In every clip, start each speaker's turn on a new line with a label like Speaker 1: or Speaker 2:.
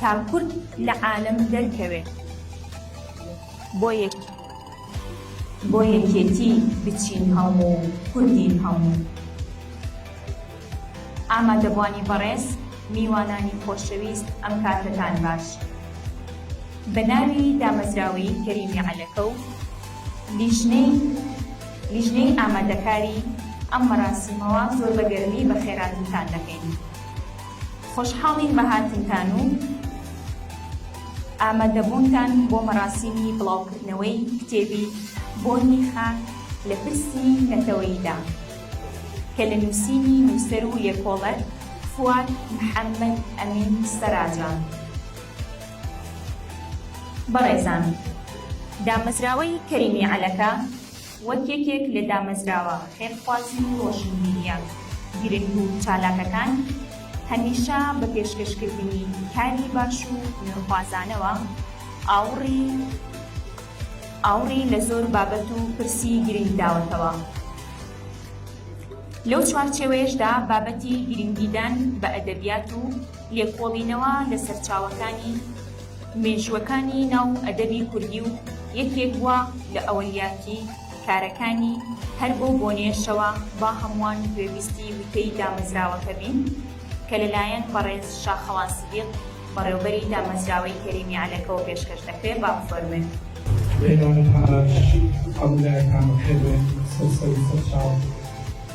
Speaker 1: تا کورد لە عالەم دەرکەوێ بۆ یەک. بۆ یەکێتی بچین هەموو کوردین هەموو. ئامادەبوانی بەڕێز میوانانی خۆشەویست ئەم کاتەتان باش بە ناوی دامەزراوەیی کەریمی عەلەکە و لیژنەی لیژنەی ئامادەکاری ئەم مەراسیمەوە زۆر بە گەرمی بەخێراتنتان دەکەین. خۆشحاڵین بە هاتنتان و ئامادەبوونتان بۆ مەراسیمی بڵاوکردنەوەی کتێبی بۆنی خاک لە پرسی نەتەوەییدا کە لە نووسینی نووسەر و لێکۆڵەر فواد محەمەد ئەمین سەراجە. بەڕێزان دامەزراوەی کەریمی عەلەکە، وەک یەکێک لە دامەزراوە خێرخوازی و ڕۆشنبیرییە گرنگ و چالاکەکان، هەمیشە بە پێشکەشکردنی کاری باش و نوێخوازانەوە، ئاوڕی ئاوڕی لە زۆر بابەت و پرسی گرنگ داوەتەوە. لەو چوارچێوەیەشدا بابەتی گرنگیدان بە ئەدەبیات و. لێکۆڵینەوە لە سەرچاوەکانی مێژووەکانی ناو ئەدەبی کوردی و یەکێک بووە لە ئەولیاتی کارەکانی، هەر بەو بۆنەیەشەوە با هەمووان گوێبیستی وتەی دامەزراوەکە بین کە لەلایەن بەڕێز شاخەوان سدیق بەڕێوبەری دامەزراوەی کەریمی عەلەکەوە پێشکەش دەکرێ با بفەرموێ. بێگانە پاراستشی ئەولایەکانەکەبێ
Speaker 2: سەر سەروسەرچاوە.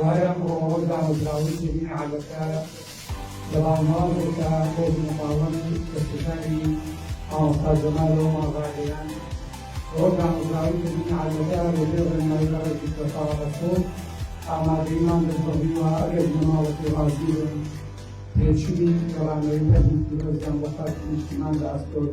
Speaker 2: وایە بۆ ئەوە دامەزراوەی جەمیع عەلەکە لە باڵناوێکە بۆ بنەماڵەن و دەستەکانی مامۆستا جەمال ئەومان ڕاگەیاند ئەوە دامەزراوەی جەمیع عەلەکە بە بێ ڕێنمایی بەڕێکی سەرتاڵ ئەسۆد ئامادەیمان دەستەڵیوە ئەگەر بنەماڵەکەی ڕازی بن پێشووی گەڕانەوەی هەردوو پیرۆزیان بۆ خاکی نیشتیمان لە ئەسۆد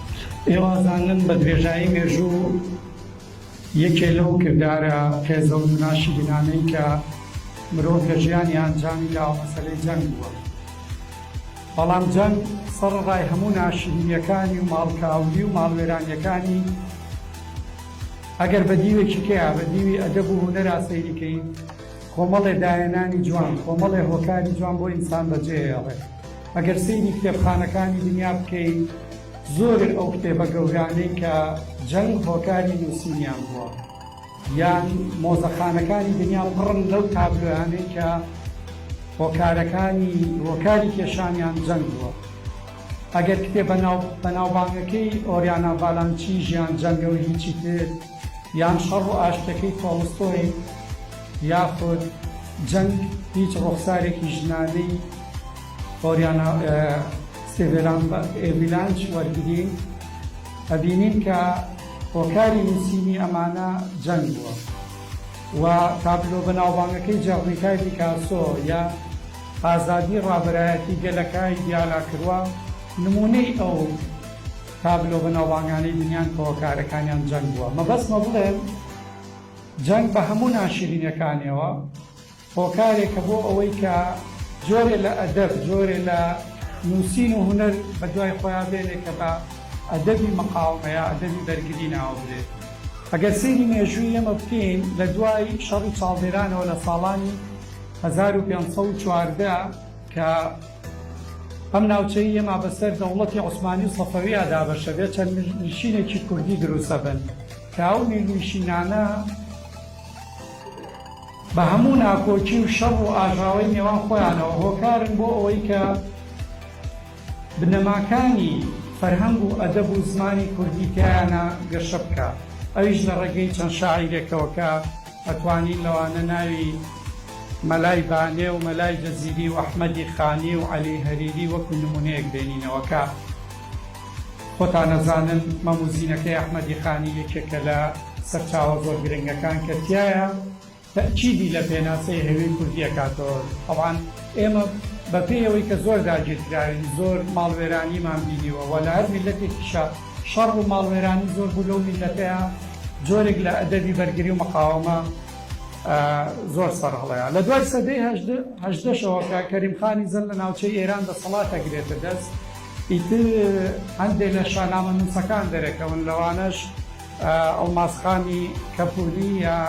Speaker 2: ئێوازانن بە درێژایی مێژوو یەکێ لەو کردارە هێزە و ناشیرینانەی کە مرۆڤ لە ژیانی ئەنجامی داوە مەسەلەی جەنگ بووە بەڵام جەنگ سەرڕای هەموو ناشیرینیەکانی و ماڵکاولی و ماڵوێرانیەکانی ئەگەر بە دیوێکی کەیا بە دیوی ئەدەب و هوەرا سەیریکەی کۆمەڵێ داهێنانی جوان کۆمەڵێ هۆکاری جوان بۆ ئینسان بەجێهێڵێت ئەگەر سەیری کتێبخانەکانی دنیا بکەین زۆرن ئەو کتێبە گەورانەی کە جەنگ هۆکاری نووسینیان بووە یان مۆزەخانەکانی دنیا پڕن لەو تابلۆیانەی کە هۆکارەکانی هۆکاری کێشانیان جەنگ بووە ئەگەر کتێب بەناوبانگەکەی ئۆریانا ڤالانچی ژیان جەنگە و هیچی تر یان شەڕ و ئاشتەکەی تۆڵستۆی یاخود جەنگ هیچ ڕوخسارێکی ژنانەی ئۆریانا سێڤێران بە ئێڤیلانچ وەرگرین، ئەبینین کە هۆکاری نووسینی ئەمانە جەنگ بووە و تابلۆ بەناوبانگەکەی جێڕنیکای پیکاسۆ یان ئازادی ڕابەرایەتی گەلەکای دیالا کرووا نموونەی ئەو تابلۆ بەناوبانگانەی بینیان کە هۆکارەکانیان جەنگ بووە. مەبەستمە بڵێم جەنگ بە هەموو ناشیرینیەکانیەوە، هۆکارێکە بۆ ئەوەی کە جۆرێ لە ئەدەب، جۆرێ لە نووسین و هونەر بە دوای خۆیا بێنێ کە بە ئەدەبی مقاومە یا ئەدەبی بەرگری ناوبرێ. ئەگەر سەیری مێژووی ئێمە بکەین لە دوای شەڕی چاڵدێرانەوە لە ساڵانی هەزار و پێنج سەد و چواردە کە ئەم ناوچەی ئێمە بە سەر دەوڵەتی عوسمانی و سەفەویا دابەشە بێ چەند میرنشینێکی کوردی دروست ئەبن کە ئەو میرنشینانە بە هەموو ناکۆکی و شەڕ و ئاژاوەی نێوان خۆیانەوە هۆکارن بۆ ئەوەی کە بنەماکانی فەرهەنگ و ئەدەب و زمانی کوردی تیایانا گەشە بکا ئەویش لە ڕێگەی چەند شاعیرێکەوە کە ئەتوانین لەوانە ناوی مەلای بانێ و مەلای جزیری و ئەحمەدی خانی و عەلی هەریری وەکو نمونەیەک بێنینەوە کە خۆتان ئەزانن مەم و زینەکەی ئەحمەدی خانی یەکێکە لە سەرچاوە زۆر گرنگەکان کە تیایە تەئکیدی لە پێناسەی هەوی کوردی ئەکاتەوە تەبعان ئێمە بە پێی ئەوەی کە زۆر داگیرکراوین زۆر ماڵوێرانیمان بینیوە وە لە هەر میللەتێکیشە شەڕ و ماڵوێرانی زۆر بوو لەو میللەتەیە جۆرێک لە ئەدەبی بەرگری و مقاوەمە زۆر سەرهەڵەیە لە دوای سەدەی هەژدە هەژدەشەوە کە کەریم خانی زەند لە ناوچەی ئێران دەسەڵات ئەگرێتە دەست ئیتر هەندێ لە شانامەنووسەکان دەرەکەون لەوانەش ئەڵماسخانی کەپووری یا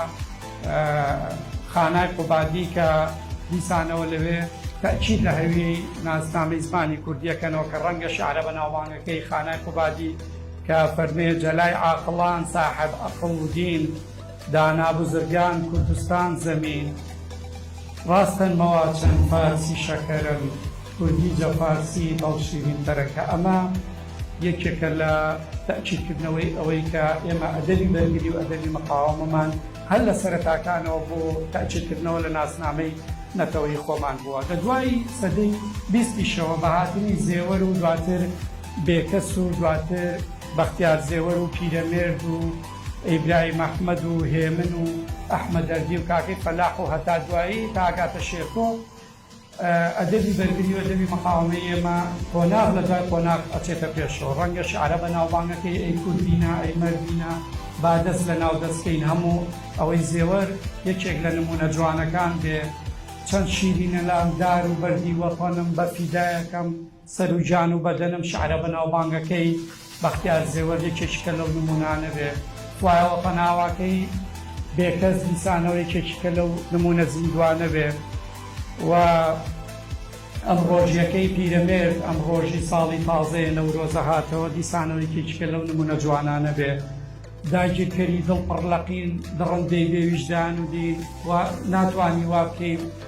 Speaker 2: خانای قوبادی کە دیسانەوە لەوێ تەئکید لە هەویەی ناسنامەی زمانی کوردی ئەکەنەوە کە ڕەنگە شعرە بەناوبانگەکەی خانای قوبادی کە فەرمێ جەلای عاقڵان ساحب ئەقڵ و دین دانا بزرگان کوردستان زەمین ڕاستن مەوا چەن پارسی شەکەرەن. کوردی جا فارسی بەڵشیڤین تەرەکە ئەمە یەکێکە لە تەئکید کردنەوەی ئەوەی کە ئێمە ئەدەبی بەرگری و ئەدەبی مقاوەمەمان هەر لە سەرەتاکانەوە بۆ تەئکید کردنەوە لە ناسنامەی نەتەوەیی خۆمان بووە لە دوای سەدەی بیستیشەوە بە هاتنی زێوەر و دواتر بێکەس و دواتر بەختیار زێوەر و پیرەمێرد و ئیبراهیم ئەحمەد و هێمن و ئەحمەدەردی و کاکەی فەلاح و هەتا دوایی تا ئەگاتە شێرکۆ ئەدەبی بەرگری و ئەدەبی مقاوەمەی ئێمە قۆناغ لە دوای قۆناغ ئەچێتە پێشەوە، ڕەنگە شیعرە بەناوبانگەکەی ئەی کوردینە، ئەی مەردینە، با دەست لە ناو دەست کەین، هەموو ئەوەی زێوەر یەکێک لە نموونە جوانەکان بێ، چەند شیرینە لام دار و بەردی وەتەنم، بە فیدایەکەم، سەر و جان و بەدەنم شعرە بەناوبانگەکەی بەختیار زێوەر یەکێکیکە لەو نموونانە بێ وایە وە پەناواکەی بێکەس دیسانەوە یەکێکیکە لەو نموونە زیندووانە بێ وە ئەم ڕۆژیەکەی پیرەمێرد ئەم ڕۆژی ساڵی تازەیە نەورۆزە هاتەوە دیسانەوە یەکێکیکە لەو نموونە جوانانە بێ داگیرکەری دڵ پڕ لە قین دڕندەی بێ ویژدان و دین وە ناتوانی وا بکەی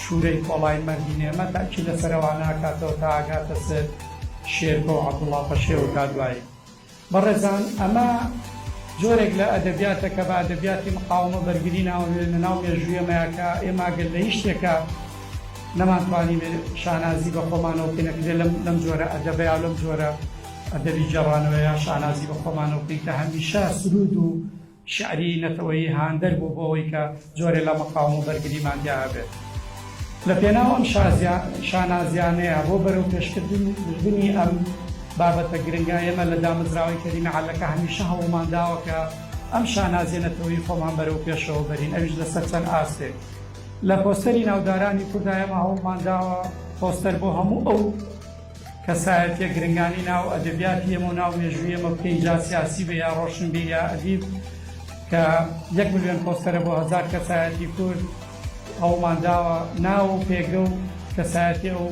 Speaker 2: شورەی کۆڵای مەردی نێمە تاکی لە سەرەوانە ئەکاتەوە تا ئەگاتە سەر شێرکۆ و عەبدوڵا پەشێو تا دوایی. بەڕێزان ئەمە جۆرێک لە ئەدەبیاتە کە بە ئەدەبیاتی مقاومە بەرگری ناونرێ لە ناو مێژووی ئێمەیا کە ئێمە گەر لە هیچ شتێکا نەمانتوانیبێ شانازی بە خۆمانەوە بکەین ئەکرێ لەم لەم جۆرە ئەدەبەیا و لەم جۆرە ئەدەبی گێڕانەوەیا شانازی بە خۆمانەوە بکەین کە هەمیشە سروود و شیعری نەتەوەیی هاندەر بوو بۆ ئەوەی کە جۆرێ لە مەقاوم و بەرگریمان تیا هەبێت. لە پێناو ئەم شانازیانەیە بۆ بەرەو پێشکردنی ئەم بابەتە
Speaker 3: گرنگە، ئێمە لە دامەزراوەی کەریم عەلەکە هەمیشە هەوڵمان داوە کە ئەم شانازیە نەتەوەیی خۆمان بەرەو پێشەوە بەرین، ئەویش لەسەر چەند ئاستێک. لە پۆستەری ناودارانی کوردا ئێمە هەوڵمان داوە پۆستەر بۆ هەموو ئەو کەسایەتیە گرنگانی ناو ئەدەبیاتی ئێمە و ناو مێژووی ئێمە بکەین جا سیاسی بێ یا ڕۆشنبیر یا ئەدیب کە یەک ملیۆن پۆستەرە بۆ هەزار کەسایەتی کورد ئەومان داوە ناو و پێگە و کەسایەتی ئەو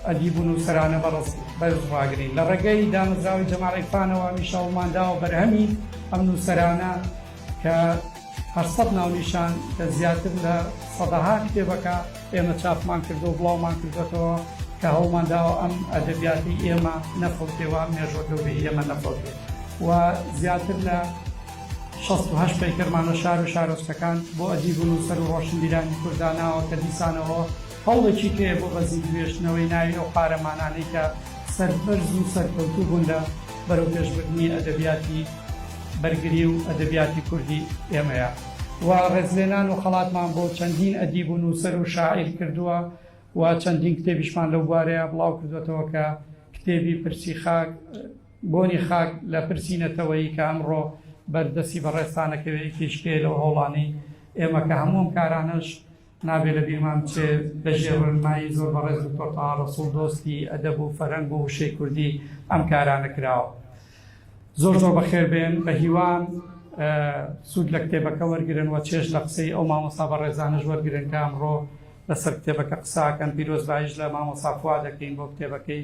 Speaker 3: ئەدیب و نووسەرانە بەڕست بەرز ڕاگرین لە ڕێگەی دامەزراوەی جەماعەی فانەوە هەمیشە ئەومان داوە بەرهەمی ئەم نووسەرانە کە هەشت سەد ناونیشان کە زیاتر لە سەدەها کتێبەکە ئێمە چاپمان کردووە و بڵاومان کردووەتەوە کە هەوڵمان داوە ئەم ئەدەبیاتی ئێمە نەفەوتێ و مێژووە گەورەی ئێمە نەفەوتێ و زیاتر لە شەست و هەشت پەیکەرمانە شار و شارۆچکەکان بۆ ئەدیب و نووسەر و ڕۆشنبیرانی کورد داناوە کە دیسانەوە هەوڵێکی پێیە بۆ بەزیندوێژتنەوەی ناوی ئەو قارەمانانەی کە سەربەرز و سەرکەوتوو بوون لە بەرەوپێشبردنی ئەدەبیاتی بەرگری و ئەدەبیاتی کوردی ئێمەیە و ڕێزلێنان و خەڵاتمان بۆ چەندین ئەدیب و نووسەر و شاعیر کردووە و چەندین کتێبیشمان لەو بوارەیە بڵاو کردووەتەوە کە کتێبی پرسی خاک بۆنی خاک لە پرسی نەتەوەیی کە ئەمڕۆ بەردەستی بەڕێزتان ئەکەوێ یەکێکی پێیە لەو هەوڵانەی ئێمە کە هەموو ئەم کارانەش نابێ لە بیرمان بچێ لە ژێر ڕێنمایی زۆر بەڕێز دکتۆر تەها ڕەسوڵ دۆستی ئەدەب و فەرهەنگ و وشەی کوردی ئەم کارانە کراوە. زۆر زۆر بەخێر بێن بە هیوام سوود لە کتێبەکە وەرگرن و چێژ لە قسەی ئەو مامۆستا بەڕێزانەش وەرگرن کە ئەمڕۆ لەسەر کتێبەکە قساکەن پیرۆزبایش لە مامۆستا فواد دەکەین بۆ کتێبەکەی